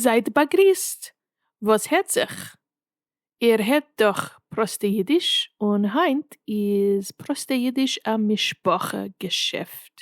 זייט באגריסט, וואס העט זיך? איר הערט דאך פראסטע אידיש, און היינט איז פראסטע אידיש א משפחה געשעפט.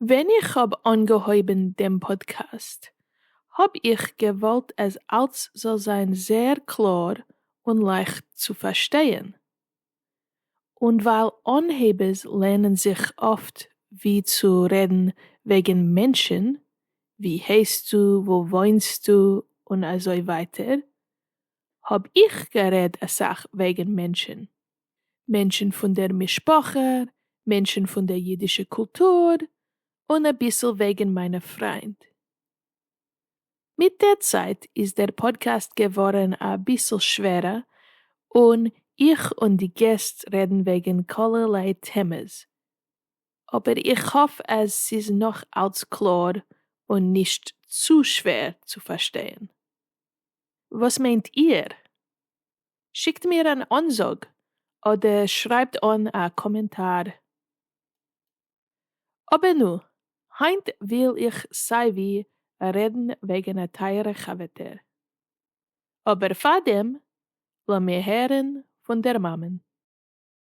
ווען איך האב אנגעהויבן דעם פאדקעסט האב איך געוואלט אז אלץ זאל זיין זייער קלאר און לייכט צו פארשטייען, און ווייל אנהייבערס לערנען זיך אפט ווי צו רעדן וועגן מענטשן, ווי הייסטו, וואו וואוינסטו, און אזוי ווייטער, האב איך גערעד אסאך וועגן מענטשן, מענטשן פון דער משפחה, מענטשן פון דער אידישע קולטור, און אביסל וועגן מיינע פריינד. מיט דער צייט איז דער פאדקעסט געווארן אביסל שווערע און איך און די געסט רעדן וועגן כלערליי טעמעס, אבער איך האף אז ס'איז נאך אלץ קלאר און נישט צו שווער צו פארשטייען. וואס מיינט איהר? שיקט מיר אן אנזאג אדער שרייבט אן א קאמענטאר. אבער נו, היינט וויל איך סיי ווי רעדן וועגן א טייערע חבר'טער. אבער פארדעם לאמיר הערן פון דער מאמען.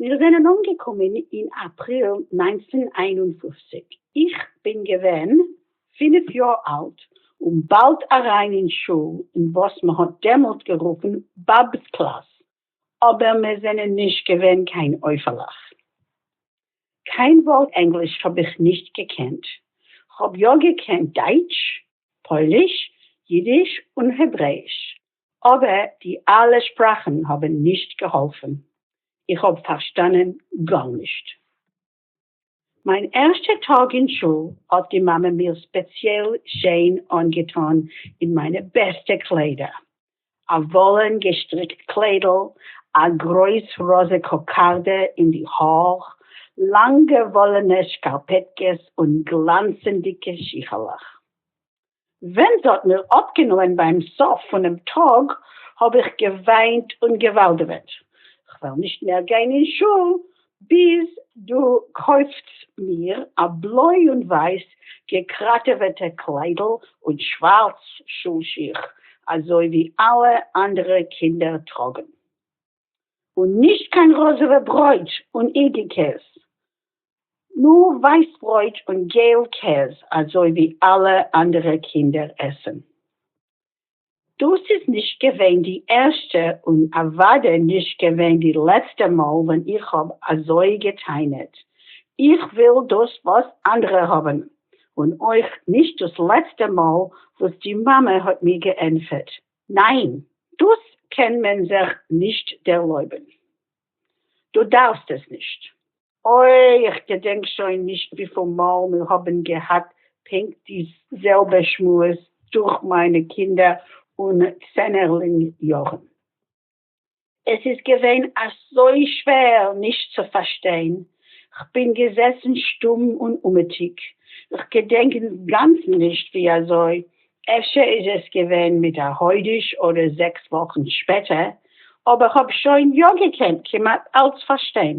מיר זענען אנגעקומען אין אפריל נײַנצן איין און פֿופֿציק, איך בין געווען פינף יאר אלט און באלד אריין אין שול אין וואס מען האט דעמאלט גערופן באב'ס קלאס, אבער מיר זענען נישט געווען קיין עופה'לעך. קיין ווארט ענגליש האב איך נישט געקענט, כ'האב יא געקענט דייטש, פויליש, אידיש און העברעיש, אבער די אלע שפראכן האבן נישט געהאלפן, איך האב פארשטאנען גארנישט. מיין ערשטע טאג אין שול האט די מאמע מיר ספעציעל שיין אנגעטון אין מיינע בעסטע קליידער, א וואלען געשטריקט קליידל, א גרויס ראזע קאקארדע אין די האר, לאנגע וואלענע שקארפעטקעס און גלאנצענדיגע שיכלעך. ווען ס'האט מיר אפגענומען ביים סוף פונעם טאג האב איך געוויינט און געוואלדעוועט כ'וועל נישט מער גיין אין שול ביז דו קויפטס מיר א בלוי און ווייס געקראטעוועטע קליידל און שווארץ שול שיך אזוי ווי אלע אנדערע קינדער טראגן. און נישט קיין ראזעווע ברויט און אינגע קעז, נאר ווייס ברויט און געל קעז אזוי ווי אלע אנדערע קינדער עסן. דאס איז נישט געווען די ערשטע און אוודאי נישט געווען די לעצטע מאל ווען איך האב אזוי גע'טענה'ט, איך וויל דאס וואס אנדערע האבן, און אויך נישט דאס לעצטע מאל וואס די מאמע האט מיר געענטפערט. ניין, דאס קען מען זיך נישט ערלויבן. דו דארפסט עס נישט. אוי, איך געדענק שוין נישט וויפיל מאל מיר האבן געהאט פונקט די זעלבע שמועס דורך מיינע קינדער און צענערלינג יארן. עס איז געווען אזוי שווער נישט צו פארשטיין, כ'בין געזעסן שטום און אומעטיג, כ'געדענק אינגאנצן נישט ווי אזוי, אפשר איז עס געווען מיט א חודש אדער זעקס וואכן שפעטער, אבער כ'האב שוין יא געקענט כמעט אלץ פארשטיין.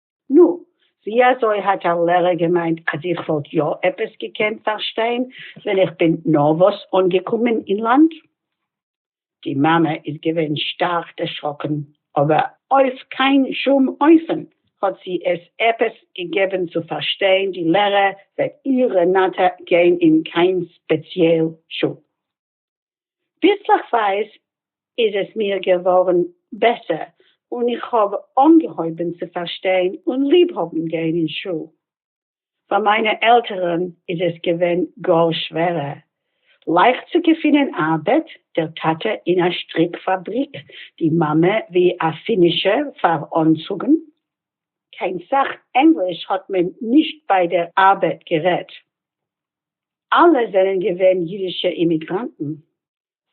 נו, ווי אזוי האט א לערער געמיינט אז איך וואלט יא עפעס געקענט פארשטיין ווען איך בין נארוואס אנגעקומען אין לאנד? די מאמע איז געווען שטארק דערשראקן, אבער אויף קיין שום אופן האט זי עס עפעס געגעבן צו פארשטיין, די לערער וועט איר רענאטע גיין אין קיין ספעציעל שול. ביסלעכווייז איז עס מיר געווארן בעסער און איך האב אנגעהויבן צו פארשטיין און ליב האבן גיין אין שול. פאר מיינע עלטערן איז עס געווען גאר שווערער לייכט צו געפינען ארבעט, דער טאטע אין א שטריק פאבריק, די מאמע ווי א פינישער פאר אנצוגן. קיין סאך ענגליש האט מען נישט ביי דער ארבעט גערעדט. אלע זענען געווען אידישע אימיגראנטן.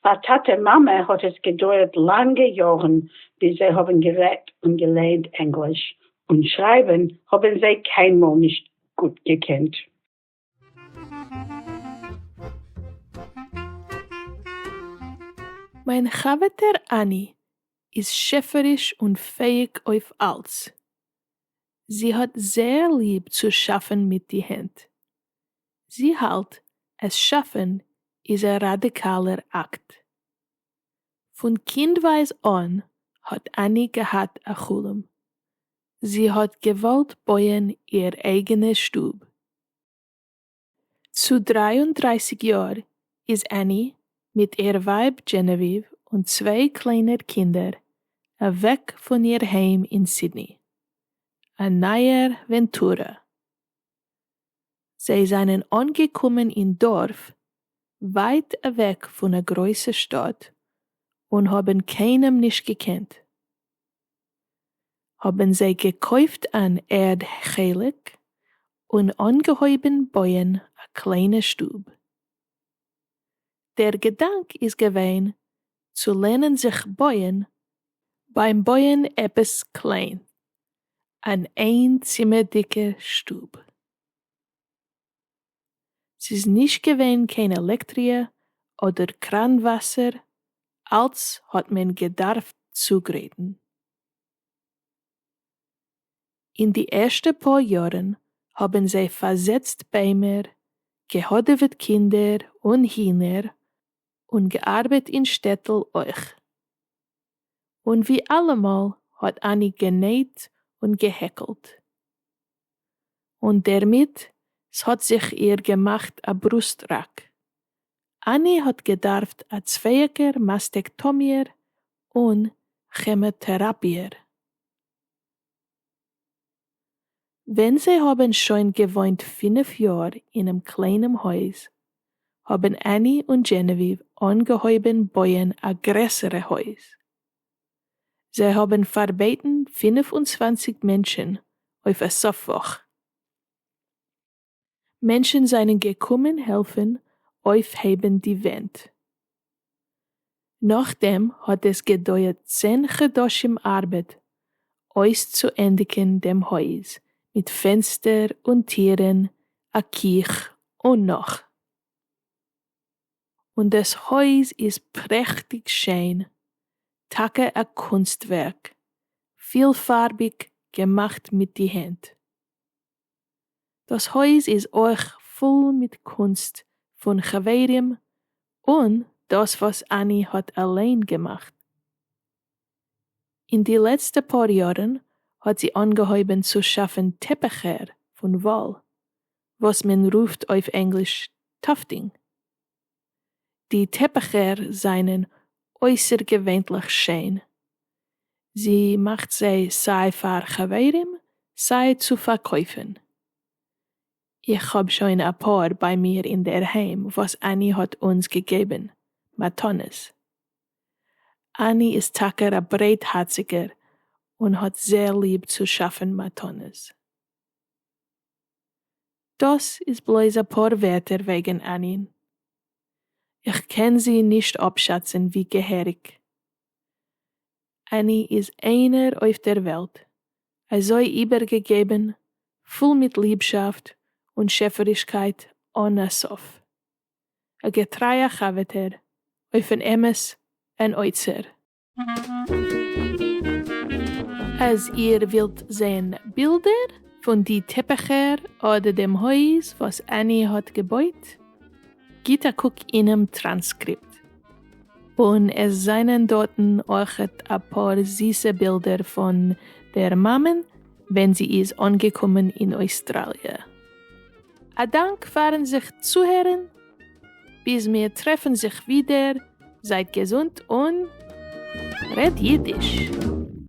פאר טאטע מאמע האט עס געדויערט לאנגע יארן ביז זיי האבן גערעדט און געלערנט ענגליש, און שרייבן האבן זיי קיינמאל נישט גוט געקענט. מיין חבר'טע אני איז שעפעריש און פעהיג אויף אלץ. זי האט זייער ליב צו שאפן מיט די הענט. זי האלט אז שעפען איז א ראדיקאלער אקט. פון קינדווייז אן האט אני געהאט א חלום, זי האט געוואלט בויען איר אייגענע שטוב. צו דרײַ און דרײַסיק יאר איז אני מיט איר ווייב דזשענעוויוו און צוויי קליינער קינדער אוועק פון איר היים אין סידני. א נייער ווענטורע. זיי זענען אנגעקומען אין דארף ווייט אוועק פון א גרויסע שטאט און האבן קיינעם נישט געקענט. האבן זיי געקויפט אן ערד חלק און אנגעהויבן בויען א קליינע שטוב. דער געדאנק איז געווען צו לערנען זיך בויען ביים בויען עפעס קליין, אן איין צימערדיגע שטוב. ס'איז נישט געווען קיין עלעקטריע אדער קראן וואסער, אלץ האט מען געדארפט צוגרייטן. אין די ערשטע פאר יארן האבן זיי פארזעצט ביימער, געהאדעוועט קינדער און הינער, און געארבעט אין שטעטל אויך. און ווי אלעמאל האט אני גענעהט און געהעקלט. און דערמיט ס'האט זיך איר געמאכט א ברוסט ראק. אני האט געדארפט א צווייעקער מאסטעקטאמיער און כעמאטעראפיער. ווען זיי האבן שוין געוואוינט פינף יאר אינעם קליינעם הויז, האבן עני און דזשענעוויוו אנגעהויבן בויען א גרעסערע הויז. זיי האבן פארבעטן פֿינף און צוואַנציק מענטשן אויף א סוף וואך. מענטשן זענען געקומען העלפן אויפהייבן די ווענט. נאכדעם האט עס געדויערט צען חדשים ארבעט אויסצוענדיגן דעם הויז מיט פענסטער און טירן, א קיך און נאך. און דאס הויז איז פרעכטיג שיין, טאקע א קונסט ווערק, פילפארביג געמאכט מיט די הענט. דאס הויז איז אויך פול מיט קונסט פון חברים און דאס וואס אני האט אליין געמאכט. אין די לעצטע פאר יארן האט זי אנגעהויבן צו שאפן טעפעכער פון וואל, וואס מען רופט אויף ענגליש טאפטינג. די טעפיכער זענען אויסערגעווענליך שיין. זי מאכט זיי סיי פאר חברים סיי צו פארקויפן. איך האב שוין אפאר ביי מיר אינדערהיים וואס אני האט אונז געגעבן מתנות. אני איז טאקע א ברייטהארציגער און האט זעהר ליב צו שאפן מתנות. דאָס איז בלויז אַ פּאָר ווערטער וועגן ענין. איך קען זי נישט אָפּשאַצן ווי געהעריק. עני איז איינער אויף דער וועלט, אַזוי איבערגעגעבן, פול מיט ליבשאַפט און שעפערישקייט אָן אַ סוף. אַ געטרייַ חברטער, אויפן אמת, אַן אוצר. אז איר ווילט זען בילדער פון די טעפיכער אדער דעם הויז וואס עני האט געבויט, גיט א קוק אינעם טראנסקריפט. און עס זענען דארטן אויכעט אפאר זיסע בילדער פון דער מאמען ווען זי איז אנגעקומען אין אויסטראליע. א דאנק פארן זיך צוהערן! ביז מיר טרעפן זיך ווידער, זייט געזונט און רעדט אידיש!